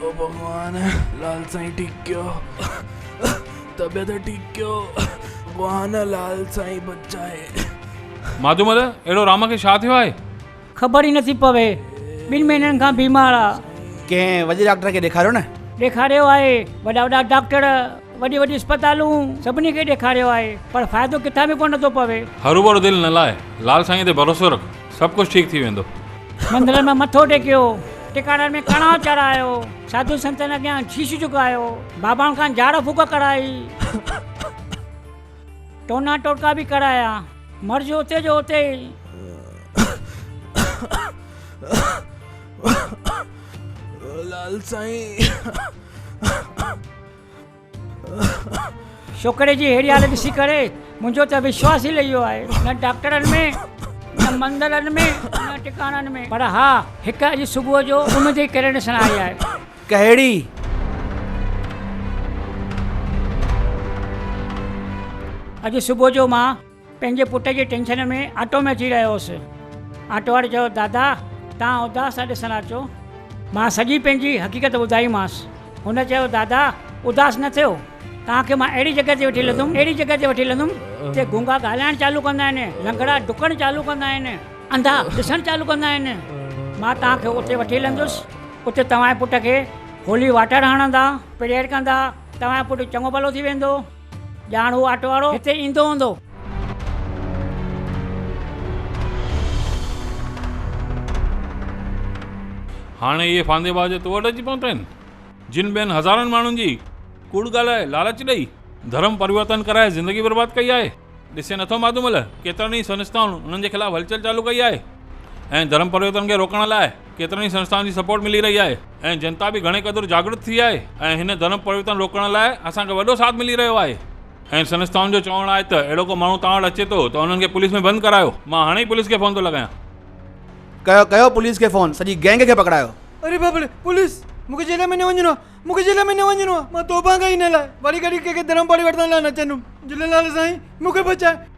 او ڀڳوان لال سائين ٺيڪ ڪيو طبيعت ٺيڪ ڪيو ڀڳوان لال سائين بچائي مادومل اهڙو رام کي ڇا ٿيو آهي؟ خبر ئي نٿي پوي ٻن مهينن کان بيمار آ. ڪنهن وڏي ڊاڪٽر کي ڏيکاريو نه. ڏيکاريو آهي وڏا وڏا ڊاڪٽر وڏي وڏي اسپتالون سڀني کي ڏيکاريو آهي پر فائدو ڪٿان به ڪو نٿو پوي. هروڀرو دل نه لاء لال سائين تي ڀروسو رک. سڀ ڪجھ ٺيڪ ٿي ويندو. مندرن ۾ مٿو ٽيڪيو، ٽڪاڙن ۾ ڪڻا چڙهايو، ساڌو سنتن اڳيان شيش جهڪايو، بابائن کان جاڙ ڦوڪ ڪرائي، ٽونا ٽوٽڪا به ڪرايا. مرض اتي جو اتي ئي. لال سائين. ڇوڪري جي ههڙي حالت ڏسي ڪري منهنجو ته وشواس ئي لهي ويو آهي. نه ڊاڪٽرن ۾ نه مندرن ۾ نه ٽڪاڻن ۾ پر ها هڪ اڄ صبح جو اميد جي ڪرڻ ڏسڻ آئي آهي. ڪهڙي؟ اڄ صبح جو مان. پنهنجي پٽ جي ٽينشن ۾ آٽو ۾ اچي رهيو هوس. آٽو واري چيو، دادا توهان اداس ٿا ڏسڻ اچو. مان سڄي پنهنجي حقيقت ٻڌائيمانس. هن چيو، دادا اداس نه ٿيو، توهان کي مان اهڙي جڳهه تي وٺي هلندم، اهڙي جڳهه تي وٺي هلندم جتي گونگا ڳالهائڻ چالو ڪندا آهن، لنگڙا ڊڪڻ چالو ڪندا آهن، انڌا ڏسڻ چالو ڪندا آهن. مان توهان کي اتي وٺي هلندس، اتي توهان جي پٽ کي هولي واٽر هڻندا، پريئر ڪندا، توهان جو پٽ چڱو ڀلو ٿي ويندو. ڄاڻ هو آٽو وارو هتي ايندو هوندو. هاڻي اهي ڦاندي باز تو وٽ اچي پهتا آهن، جن ٻين هزارن ماڻهن جي ڪوڙ ڳالهائي، لالچ ڏئي، ڌرم پريورتن ڪرائي زندگي برباد ڪئي آهي. ڏسين نٿو ماڌومل، ڪيترن ئي سنسٿائن انهن جي خلاف هلچل چالو ڪئي آهي ۽ ڌرم پريورتن کي روڪڻ لاء، ڪيترن ئي سنسٿائن جي سپورٽ ملي رهي آهي ۽ جنتا به گهڻي قدر جاڳرت ٿي آهي ۽ هن ڌرم پرورتن روڪڻ لاء اسان کي وڏو ساٿ ملي رهيو آهي ۽ سنسٿائن جو چوڻ آهي ته اهڙو ڪو ماڻهو توهان وٽ اچي ٿو ته انهن کي پوليس ۾ بند ڪرايو مان هاڻي ئي پوليس کي فون ٿو لڳايان. ڪيو ڪيو پوليس کي فون سڄي گينگ کي پڪڙايو. اري باپڙي پوليس مون کي جيل ۾ نه وڃڻو آهي مون کي جيل ۾ نه وڃڻو آهي مان توبه ڪئي هن لاء واري گهڙي ڪنهن کي ڌرم پرورتن لاء نه چوندم جهليلال سائين مون کي بچاء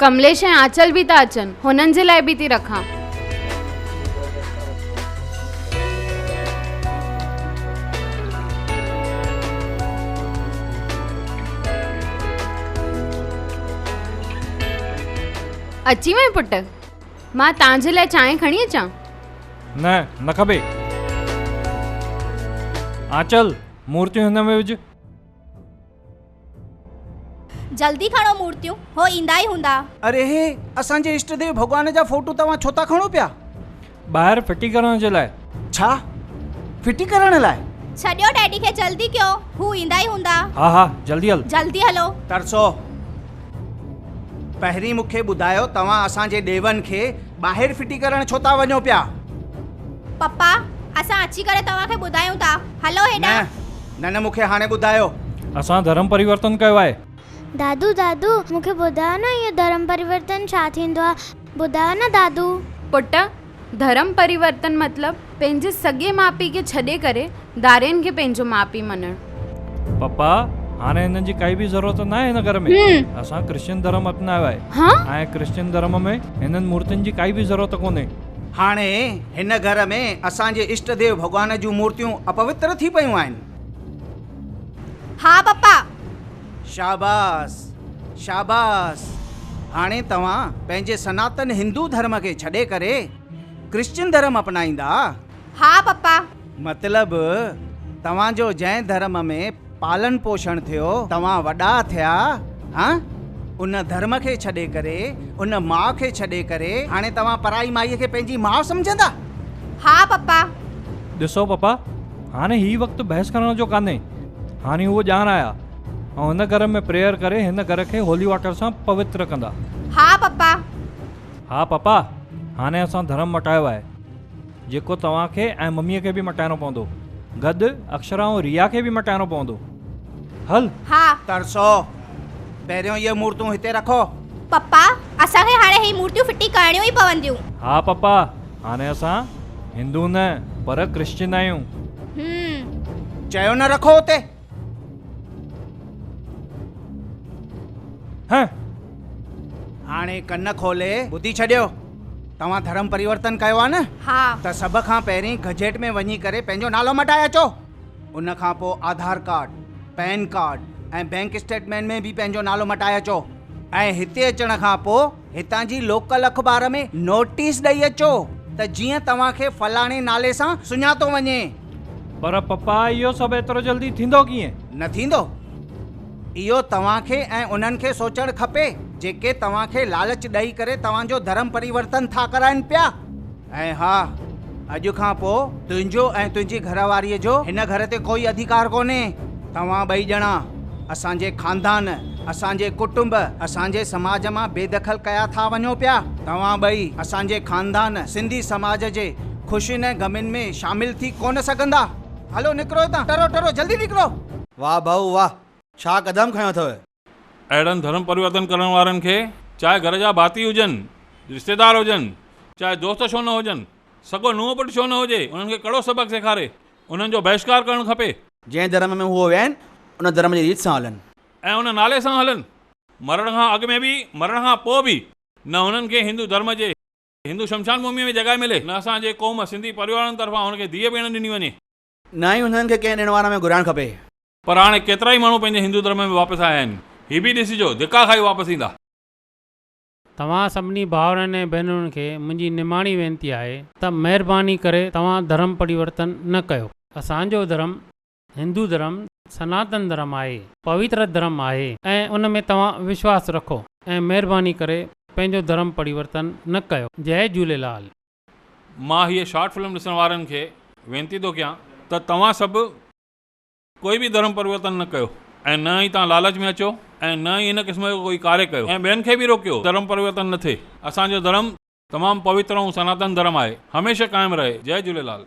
ڪمليش ۽ آنچل به ٿا اچن. هنن جي لاء به ٿي رکان. اچي وئين پٽ. مان تان جي لاء چانهه کڻي اچان؟ نه، نه کپي. آنچل، مورتيون هن ۾ وجهه. جلدي کڻو مورتيون هو ايندا ئي هوندا. اري هي اسان جي اشٽ ديو ڀڳوان جا فوٽو توهان ڇو ٿا کڻو پيا. ٻاهر ڦٽي ڪرڻ جي لاء. ڇا ڦٽي ڪرڻ لاء. ڇڏيو ڊيڊي کي جلدي ڪيو هو ايندا ئي هوندا. ها ها جلدي هل. جلدي هلو. ترسو پهرين مون کي ٻڌايو توهان اسان جي ڏيون کي ٻاهر ڦٽي ڪرڻ ڇو ٿا وڃو پيا. پپا اسان اچي ڪري توهان کي ٻڌايون ٿا هلو هيڏانهن. نه نه نه مون کي هاڻي ٻڌايو. اسان ڌرم پريورتن ڪيو آهي. دادو دادو مون کي ٻڌايو نه اهو ڌرم پريورتن ڇا ٿيندو آهي ٻڌايو نه دادو. پٽ ڌرم پريورتن مطلب پنهنجي سڳي ماء پيء کي ڇڏي ڪري ڌارين کي پنهنجو ماء پيء مڃڻ. پپا هاڻي هنن جي ڪائي به ضرورت ناهي هن گهر ۾ اسان ڪرسچن ڌرم اپنايو آهي ۽ ڪرسچن ڌرم ۾ هنن مورتين جي ڪائي به ضرورت ڪونهي. هاڻي هن گهر ۾ اسان جي اشٽ ديو ڀڳوان جون مورتيون اپوتر ٿي پيون آهن. ها پپا. شاباس شاباس هاڻي توهان پنهنجي سناتن هندو ڌرم کي ڇڏي ڪري ڪرسچن ڌرم اپنائيندا. ها پپا. مطلب توهان جو جنهن ڌرم ۾ پالڻ پوشڻ ٿيو، توهان وڏا ٿيا هان ان ڌرم کي ڇڏي ڪري، ان ماء کي ڇڏي ڪري هاڻي توهان پرائي مائي کي پنهنجي ماء سمجهندا؟ ها پپا. ڏسو پپا هاڻي هي وقت بحث ڪرڻ جو ڪانهي، هاڻي هو ڄاڻ آيا ۽ هن گهر ۾ پريئر ڪري هن گهر کي هولي واٽر سان پوتر ڪندا. ها پپا. ها پپا هاڻي اسان ڌرم مٽايو آهي. جيڪو توهان کي ۽ مميء کي به مٽائڻو پوندو. گڏ اڪشرا ۽ ريا کي به مٽائڻو پوندو. هل! ها! ترسو! پهريون اهي مورتون هتي رکو. پپا! اسان کي هاڻي هي مورتيون ڦٽي ڪرڻيون ئي پونديون. ها پپا! هاڻي اسان هندو نه پر ڪرسچن آهيون. هم! چيو نه رکو اتي. ھئ. ھاڻي ڪن کولي ٻڌي ڇڏيو. توھان ڌرم پريورتن ڪيو آھي نه؟ ھا. ته سڀ کان پهرين گزيٽ ۾ وڃي ڪري پنھنجو نالو مٽائي اچو. ان کان پوء Aadhaar card, PAN card ۽ bank statement ۾ به پنھنجو نالو مٽائي اچو ۽ ھتي اچڻ کان پوء هتان جي لوڪل اخبار ۾ نوٽيس ڏئي اچو ته جيئن توهان کي فلاڻي نالي سان سڃاتو وڃي. پر پپا اهو سڀ ايترو جلدي ٿيندو ڪيئن؟ نه ٿيندو. اهو توهان کي ۽ انهن کي سوچڻ کپي جيڪي توهان کي لالچ ڏئي ڪري توهان جو ڌرم پريورتن ٿا ڪرائن پيا. ۽ ها، اڄ کان پوء تنهنجو ۽ تنهنجي گهر واريء جو هن گهر تي ڪوئي اڌيڪار ڪونهي. توهان ٻئي ڄڻا اسان جي خاندان، اسان جي ڪٽنب، اسان جي سماج مان بي دخل ڪيا ٿا وڃو پيا. توهان ٻئي اسان جي خاندان، سنڌي سماج جي خوشين ۽ غمين ۾ شامل ٿي ڪونه سگهندا. هلو نڪرو هتان، ٽرو ٽرو جلدي نڪرو. واهه ڀائو واهه، ڇا قدم کنيو اٿئو. اهڙن ڌرم پريورتن ڪرڻ وارن کي چاهي گهر جا ڀاتي هجن، رشتيدار هجن، چاهي دوست ڇو نه هجن، سڳو نونهن پٽ ڇو نه هجي، انهن کي ڪڙو سبق سيکاري انهن جو بهشڪار ڪرڻ کپي. جنهن ڌرم ۾ هو وين، ان ڌرم جي ريت سان هلن. ۽ ان نالي سان هلن. مرڻ کان اڳ ۾ به، مرڻ کان پوء به نه هنن کي هندو ڌرم جي هندو شمشان ڀوميء ۾ جڳهه ملي، نه اسان جي قوم سنڌي پريوارن طرفان هن کي ڌيء ڀيڻ ڏني وڃي. نه ئي انهن کي ڪنهن ڏڻ وار ۾ گهرائڻ کپي. پر هاڻي ڪيترائي ماڻهو پنهنجي هندو ڌرم ۾ واپس آيا آهن. هي به ڏسجو، ڌڪا کائي واپس ايندا. توهان سڀني ڀائرن ۽ ڀينرن کي منهنجي نماڻي وينتي آهي. ته مهرباني ڪري توهان ڌرم پريورتن نه ڪيو. اسان جو ڌرم، هندو ڌرم، سناتن ڌرم آهي. پويتر ڌرم آهي ۽ ان ۾ توهان وشواس رکو ۽ مهرباني ڪري پنهنجو ڌرم پريورتن نه ڪيو. جئي جهوليلال. مان هيء شارٽ فلم ڏسڻ وارن کي وينتي ٿو ڪيان ته توهان سڀ ڪوئي به ڌرم پرورتن نه ڪيو ۽ نه ئي توهان لالچ ۾ اچو ۽ نه ئي هن قسم جو ڪوئي ڪاري ڪيو ۽ ٻين کي به روڪيو ته ڌرم پرورتن نه ٿئي اسان جو ڌرم تمام پوتر ۽ سناتن ڌرم آهي هميشه قائم رهي جئي جهوليلال.